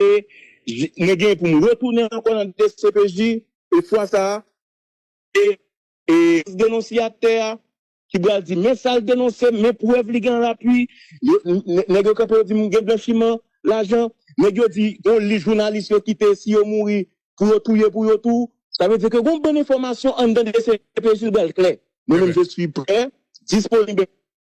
e mwen gen pou m retounen ankò nan dcpj e fwa sa se denonsyatè a ki pral di men sa l denonse men prèv li gen an lapui nèg yo kanpe yo di m gen blanchiman lajan nèg yo di yon lis jounalis yo kite si yo mouri pou yo touye pou yo tou sa vle di ke gen yon bann enfòmasyon anndan dcpj l pral klè mwen menm je suis prè disponib.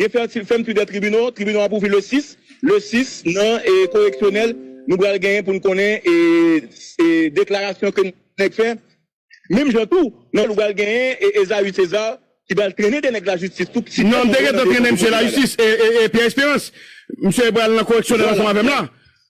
Gen fèmti dè tribino, tribino ap ouvri le 6, le 6 nan koreksyonèl nou pral genyen pou nou konnen deklarasyon ke nèg fè, menm jan tou nan nou pral genyen Esaü Cesar ki pral trennen 2 nèg lajistis tou. Non m te gentan trennen misye lajistis, Pierre Esperance, misye pral nan koreksyonèl ansanm avèm la.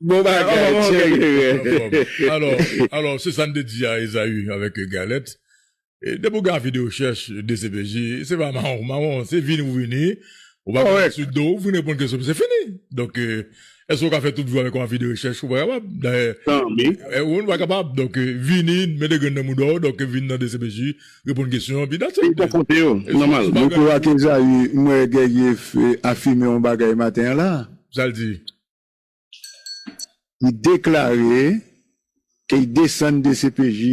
Bon bagay Thierry. Alò se sa n te di a Esaü avèk Galette depi w gen avi de rechèch dcpj se pa mawon mawon se vini ou vini ou pa gen sou do w fin reponn kesyon m se fini donk èske w ka fè tout vi w avèk yon avi de rechèch ou pa kapab dayè ou pa kapab donk vini mete grenn nan mouda w donk vin nan dcpj reponn kesyon epi dat it Mwen kwè ke Esaü mwen wè Guerrier afime yon bagay maten an la. Sa l di? Li deklare ke li desann dcpj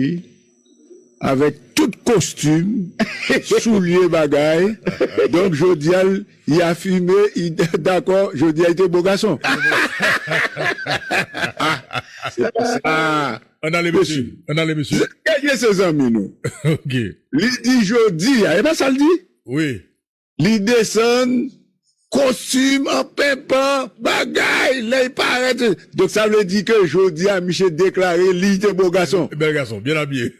avèk tout kostim, soulye, bagay, donk jodi a li afime li dakò jodi a li te bo gason. Se pa sa. Ann ale mesye, ann ale mesye. Mesye se zanmi nou. Li di jodi a, e pa sa li di? Wi. Li desann kostim an penpan bagay lè li parèt. Donk sa vle di ke jodi a misye deklare li te bo gason. Bèl gason, byen abiye.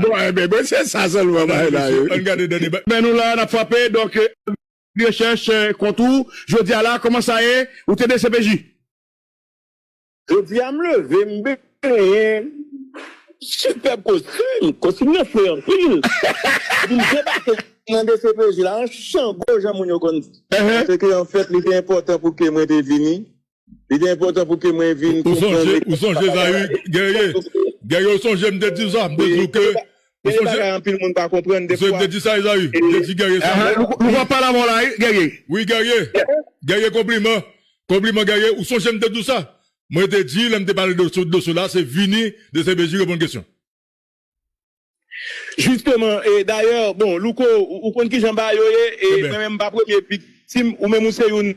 Bon, enben, bon se sa sèlman bay la. Ann gade dènye bay. Men nou la, n ap frape. Donk, Li rechèch kont ou jodi a la. Kòman sa ye? Ou te dcpj? Jodi a m leve m benyen sipèb kostim, kostim nan fre anpil epi m debake nan dcpj la an chango jan moun yo konn di. Se ke an fèt li te enpòtan pou ke mwen te vini, li te enpòtan pou ke mwen vin konprann. Ou sonje Zaïre, Guerrier, Guerrier ou sonje m te di w sa, m te di w ke Gen de bagay anpil moun pa konprann de fwa e. Louko ap pale avèw la wi Guerrier. Wi Guerrier, Guerrier konpliman, konpliman Guerrier ou sonjem te diw sa, mwen te di lèm te pale de dosye la se vini dcpj reponn kesyon. Jisteman e dayè bon Louko ou konn kijan bagay yo ye e mwen menm mpa premye viktim ou menm ou se youn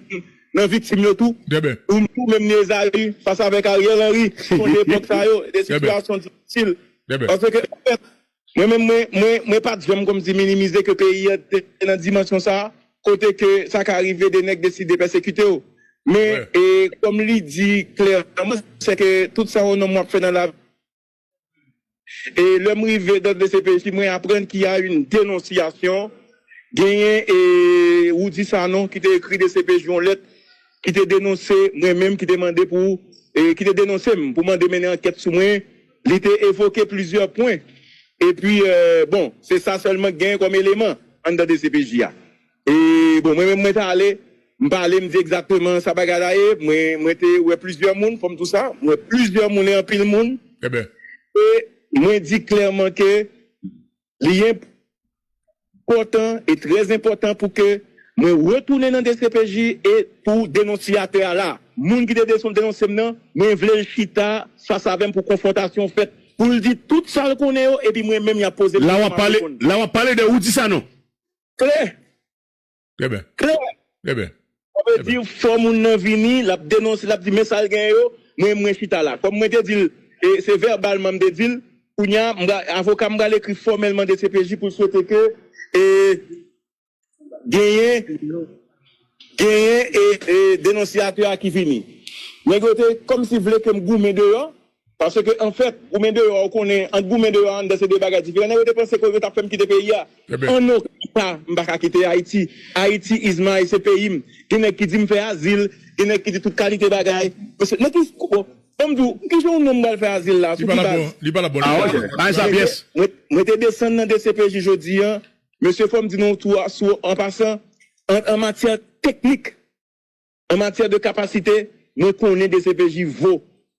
nan viktim yo tou ou menm ni Esaü fas avèk Ariel Henry sonje epòk sa yo de sitiyasyon difisil Bèbè. Paske an fèt, mwen menm mwen mwen mwen pat janm kòmsi minimize ke peyi an te nan dimansyon sa a, kote ke sa ka rive 2 nèg deside pèsekite w. Men, Wè. e kòm li di klèman, se ke tout sa yon nonm wap fè nan lavi, e lè m rive dan dcpj mwen aprann ki a yn denonsyasyon, genyen e Roudy Sanon ki te ekri dcpj yon lèt ki te denonse mwen menm, ki te mande pou e ki te denonse m pou mande mennen ankèt sou mwen. Li te evoke plizyè pwen epi bon se sa sèlman k genyen kòm eleman anndan dcpj a. E bon mwen menm mwen t ale m pa ale m di egzakteman sa bagay la ye mwen mwen te wè plizyè moun fò m tou sa m wè plizyè moun e anpil moun e mwen di klèman ke Li enp òtan e trè enpòtan pou ke mwen retounen nan dcpj e pou denonsyatè a la. Moun ki te denonse m nan, mwen vle l chita fas avè m pou konfwontasyon fèt, pou l di tout sa l konnen yo epi mwen menm y ap poze kesyon m ap reponn. La w ap pale de Rudy Sanon? Klè. Trè byen. Klè! Trè byen. Sa vle di fò moun nan vini, l ap denonse, l ap di men sa l genyen yo, mwen mwen chita la. Kòm mwen te di l, e se vèbalman m te di l, kounye a m pra, avoka m pral ekri fòmèlman dcpj pou l swete ke e genyen genyen e denonsiyatè a ki vini. Nèg yo te kòmsi vle ke m goumen deyò, Paske anfèt, goumen deyò a, ou konnen, ant goumen deyò a, anndan se de bagay diferan. Nèg yo te panse ke yo t ap fè m kite peyi a. An oken ka, m pa ka kite Ayiti. Ayiti is my, se peyi m. Gen nèg ki di m fè azil, gen nèg ki di tout kalite bagay. Mesye, nan ki, bon, an m di w, ki jan yon nonm pral fè azil la a? Sou ki baz? Li pa la bòn, li pa la bòn. Bay sa pyès. Mwen te desann nan dcpj jodi a. Mesye, fò m di nou tou a, sou, an pasan, an matyè teknik, An matyè de kapasite, mwen konnen dcpj vo,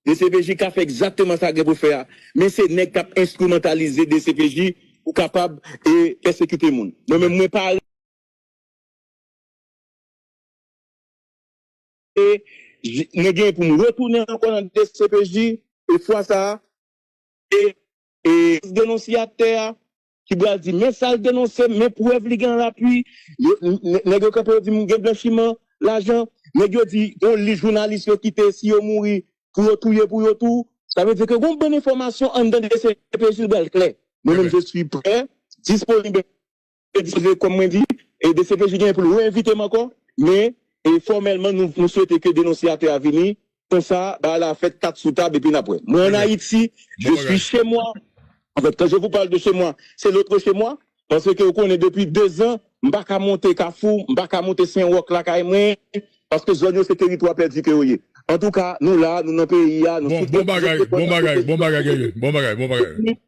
dcpj ka fè egzakteman sa gen pou fè a, men se nèg k ap enstrimantalize dcpj pou kapab e pèsekite moun. Mwen menm mwen pa. E mwen gen pou m retounen ankò nan dcpj e fwa sa a e e denosyatè a ki bral di men sal denonse men prèv li gen an lapui yo nèg yo kanpe yo di gen blanchiman lajan nèg yo di gon lis jounalis yo kite si yo mouri pou yo touye pou yo tou sa vle di ke gon bann enfòmasyon anndan dcpj li bral klè mwen menm je suis prè disponib e dispoze kòm mwen di e dcpj genyen poul re envitem ankò men e fòmèlman nou swete ke denonsiyatè a vini Konsa bagay la fèt kat sou tab epi n ap wè. Mwen an Ayiti, je suis chez moi. En fait, quand je vous parle de chez moi, c'est l'autre chez moi. Paske ou konnen depi 2 zan, m pa ka monte Kafou, m pa ka monte Sen Wòk lakay mwen, paske zòn yo se teritwa pèdi ke yo ye. Antouka, nou la, nou nan peyi a, nou sou trèt. Bon bagay, bon bagay, bon bagay Guerrier, bon bagay, bon bagay.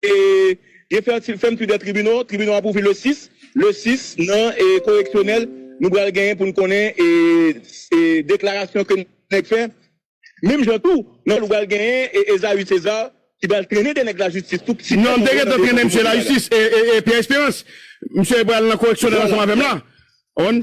E gen fertil fèm tu dè tribino, tribino ap ouvri le 6, le 6 nan e koreksyonèl nou bral genyen poun konnen e e deklarasyon ke nèg fè, menm jan tou nan nou bral genyen e Esaü Cesar ki bral trennen de nèg la jistis tou piti Non m te gentan trennen misye lajistis e e e Pierre Esperance misye bral nan koreksyonèl ansanm avèm la on.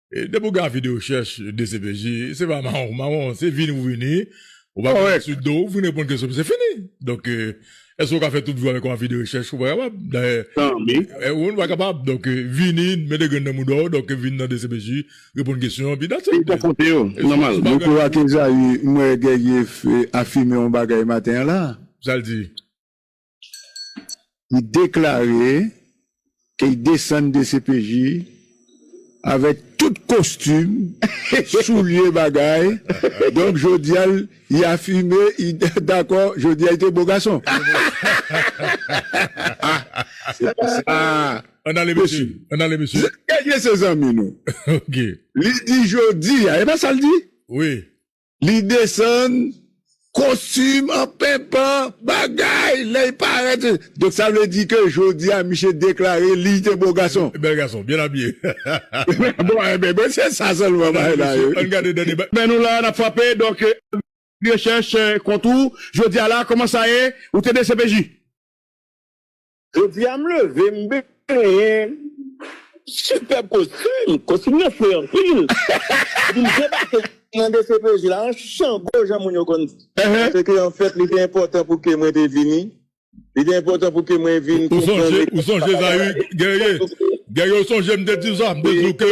Depi ou gen avi de rechèch dcpj, se pa mawon mawon, se vini ou vini, ou pa gen sou do ou, vini reponn kesyon m se fini. Donk, èske ou ka fè tout vi w avèk yon avi de rechèch? Ou pa kapab. Dayè, ou pa kapab. Donk, vini, mete grenn nan mouda w, donk vini nan dcpj, reponn kesyon, epi that's it. Se nòmal. Mwen kwè ak Ezayi, m wè Guerrier afime yon bagay maten an la. Sa l di? Li deklare ke li desann dcpj avèk tout kostim, soulye, bagay, donk jodi a li afime li dakò jodi a li te bo gason. Se pa sa. Ann ale mesye, ann ale mesye. Kèk mesye zanmi nou. Li di jodi a, e pa sa li di? Wi. Li desann kostim an penpan bagay lè li parèt. Donk sa vle di ke jodi a misye deklare li te bo gason. Bèl gason, byen abiye. Bon, enben, bon se sa sèlman bagay la ye wi. Ann gade dènye bagay. Men nou la, n ap frape. Donk, rechèch kont ou jodi a la, kòman sa ye? Ou te dcpj? Jodi a m leve m benyen sipèb kostim, kostim nan fre anpil epi m debake nan dcpj la an chango jan moun yo konn di. Paske anfèt li te enpòtan pou ke mwen te vini, li te enpòtan pou ke mwen vin konprann. Ou sonje Zaïre Guerrier, Guerrier ou sonje m te di w sa, m te di w ke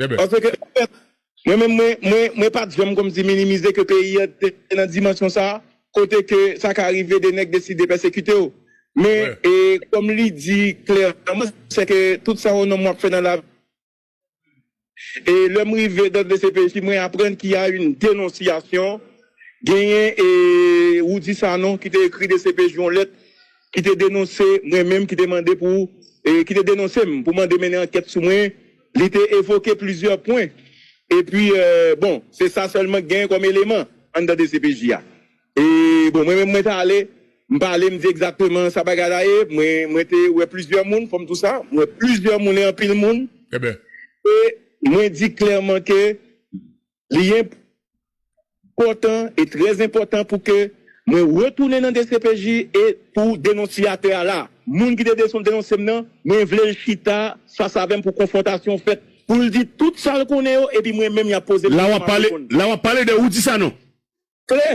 Dèbè. Paske an fèt, mwen menm mwen mwen mwen pat janm kòmsi minimize ke peyi an te nan dimansyon sa a, kote ke sa ka rive 2 nèg deside pèsekite w. Men, e kòm li di klèman, se ke tout sa yon nonm wap fè nan lavi, e lè m rive dan dcpj mwen aprann ki a yn denonsyasyon, genyen e Roudy Sanon ki te ekri dcpj yon lèt ki te denonse mwen menm, ki te mande pou, e ki te denonse m pou mande mennen ankèt sou mwen. Li te evoke plizyè pwen epi bon se sa sèlman k genyen kòm eleman anndan dcpj a. E bon mwen menm mwen t ale m pa ale m di egzakteman sa bagay la ye mwen mwen te wè plizyè moun fò m tou sa m wè plizyè moun e anpil moun e mwen di klèman ke Li enp. Pòtan e trè enpòtan pou ke mwen retounen nan dcpj e pou denonsiyatè a la. Moun ki te denonse m nan, mwen vle l chita fas avè m pou konfwontasyon fèt, pou l di tout sa l konnen yo epi mwen menm y ap poze m kesyon m ap reponn. La w ap pale de Roudy Sanon? Klè.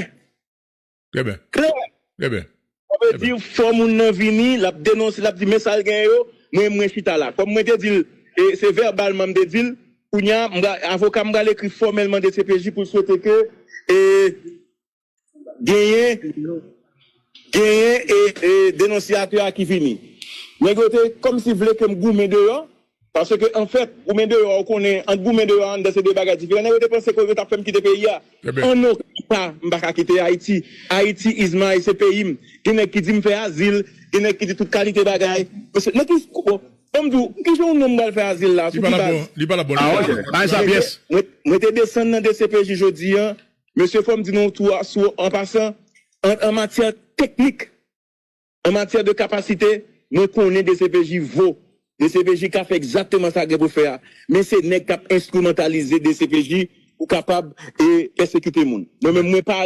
Trè byen. Klè! Trè byen. Sa vle di fò moun nan vini, l ap denonse, l ap di men sa l genyen yo, mwen mwen chita la. Kòm mwen te di l, e se vèbalman m te di l, kounye a, m pra, avoka m pral ekri fòmèlman dcpj pou l swete ke e genyen, genyen e denonsiyatè a ki vini. Nèg yo te kòmsi vle ke m goumen deyò, Paske anfèt, goumen deyò a ou konnen, ant goumen deyò a anndan se de bagay diferan. Nèg yo te panse ke yo tap fè m kite peyi a. An oken ka m pa ka kite Ayiti. Ayiti is my, se peyi m. Gen nèg ki di m fè azil, gen nèg ki di tout kalite bagay. Mesye, nan ki, bon, an m di w, ki jan yon nonm pral fè azil la a, sou ki baz? Li pa la bon, li pa la bon. Bay sa pyès. Mwen te desann nan dcpj jodi a. Mesye fò m di nou tou a, sou, an pasan, an matyè teknik. An matyè de kapasite, mwen konnen dcpj vo, dcpj ka fè egzakteman sa gen pou fè a, men se nèg k ap enstrimantalize dcpj pou kapab e pèsekite moun. Mwen menm mwen pa.